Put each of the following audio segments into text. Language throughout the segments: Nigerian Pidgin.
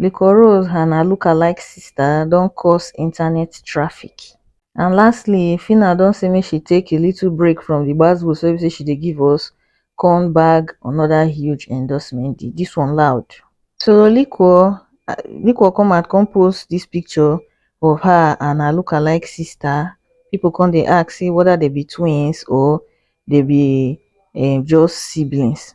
liquorose and her lookalike sister don cause internet traffic and lastly phyna don say make she take a little break from the gbas gbos wey be say she dey give us come bag another huge endorsement deal this one loud so liquor liquor come out come post this picture of her and her lookalike sister people come dey ask say whether dem be twins or dem be um just siblings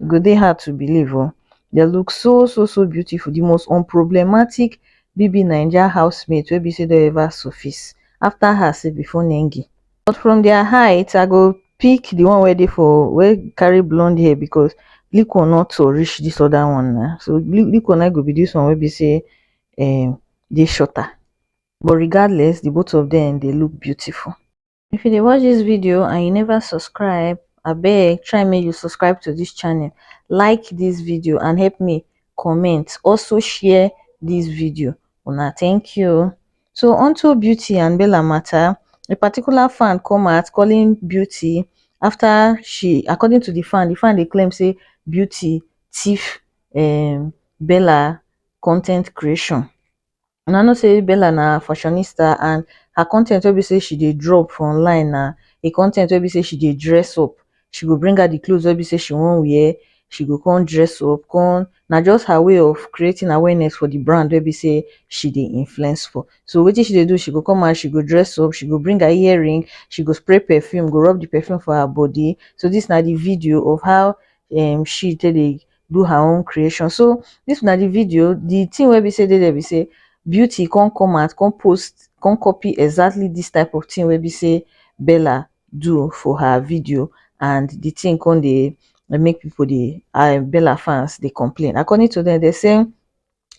e go dey hard to believe oh dey look so so so beautiful the most unproblematic BBNaija housemate wey be say don ever surface after her sef before Nengi but from their height I go pick the one wey dey for wey carry blonde hair because Liquor no tall reach this other one na so Liquor na go be this one wey be say um dey shorter but regardless the both of them dey look beautiful. if you dey watch this video and you never subscribe abeg try make you subscribe to this channel like this video and help me comment also share this video una thank you so onto beauty and bella matter a particular fan come out calling beauty after she according to the fan the fan dey claim say beauty thief um bella content creation Una know say Bella na fashionista and her content wey be say she dey drop for online na a content wey be say she dey dress up, she go bring out the clothes wey be say she wan wear, she go come dress up come na just her way of creating awareness for the brand wey be say she dey influence for. So wetin she dey do, she go come out, she go dress up, she go bring her earring, she go spray perfume, go rub the perfume for her body. So this na the video of how um she take dey do her own creation so this na the video the thing wey be say dey there be say beauty come come out come post come copy exactly this type of thing wey be say bella do for her video and the thing come dey make people dey uh, bella fans dey complain according to them they say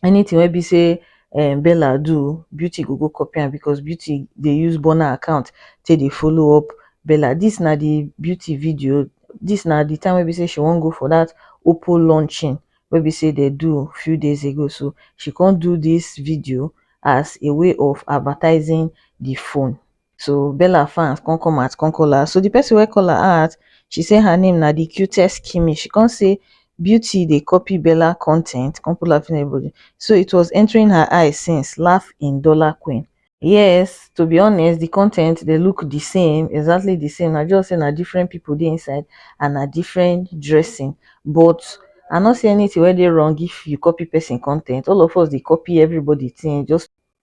anything wey be say um bella do beauty go go copy am because beauty dey use burna account take dey follow up bella this na the beauty video this na the time wey be say she wan go for that oppo launching wey be say they do few days ago so she come do this video as a way of advertising the phone so bella fans come come out come call her so the person wey call her out she say her name na the cutest kimmy she come say beauty dey copy bella con ten t come put laughing emoji so it was entering her eye since laugh in dollar queen yes to be honest the con ten t dey look the same exactly the same na just say na different people dey inside and na different dressing but i no see anything wey dey wrong if you copy person con ten t all of us dey copy everybody thing just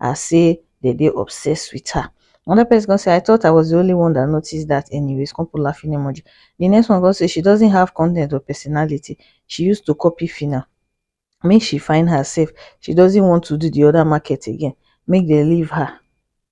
as say dem dey obsessed with her. Another person come say, I thought I was the only one that noticed that anyways, come put laughing emoji. The next one come say, she doesn't have content or personality, she used to copy Phyna. Make she find herself, she doesn't want to do the other market again, make dem leave her.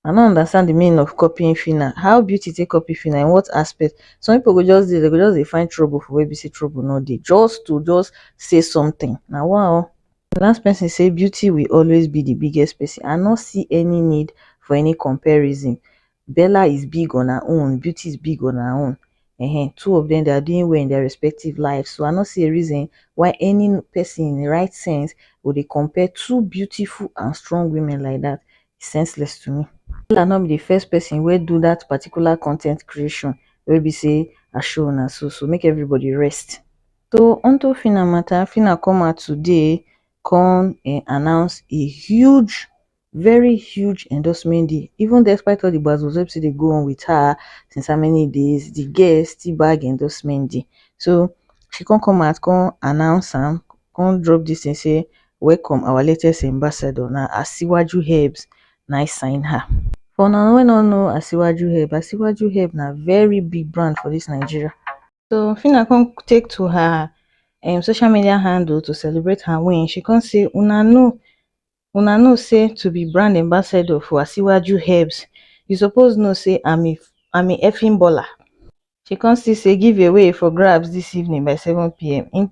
I no understand the meaning of copying Phyna. How beauty take copy Phyna? In what aspect? Some people go just dey, they go just dey find trouble for where be say trouble no dey, just to just say something. Na wow. the last person say beauty will always be the biggest person i no see any need for any comparison bella is big on her own beauty is big on her own um two of them they are doing well in their respective life so i no see a reason why any person in the right sense go dey compare two beautiful and strong women like that it's senseless to me bella no be the first person wey do that particular content creation wey be say i show una so so make everybody rest so onto fina mata fina come out today come um announce a huge very huge endorsement deal even despite all di gbas gbos wey be say dey go on wit her since how many days di girl still bag endorsement deal so she come come out come announce am come drop dis tin say welcome our latest ambassador na asiwaju herbs na im sign her for una wey no know asiwaju herb asiwaju herb na very big brand for dis nigeria. So Fina come take to her um, social media handle to celebrate her win. She come say, Una know, Una know say to be brand ambassador for Asiwaju Herbs, you suppose know say I'm a, I'm a effing baller. She come still say giveaway for grabs this evening by 7 p.m. In,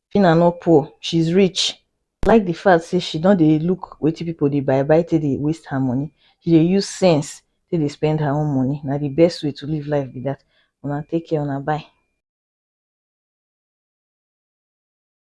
Phyna no poor, she's rich. I like the fact say she don dey look wetin people dey buy buy take dey waste her money. She dey use sense take dey spend her own money. Na the best way to live life be that. Una take care, una bye.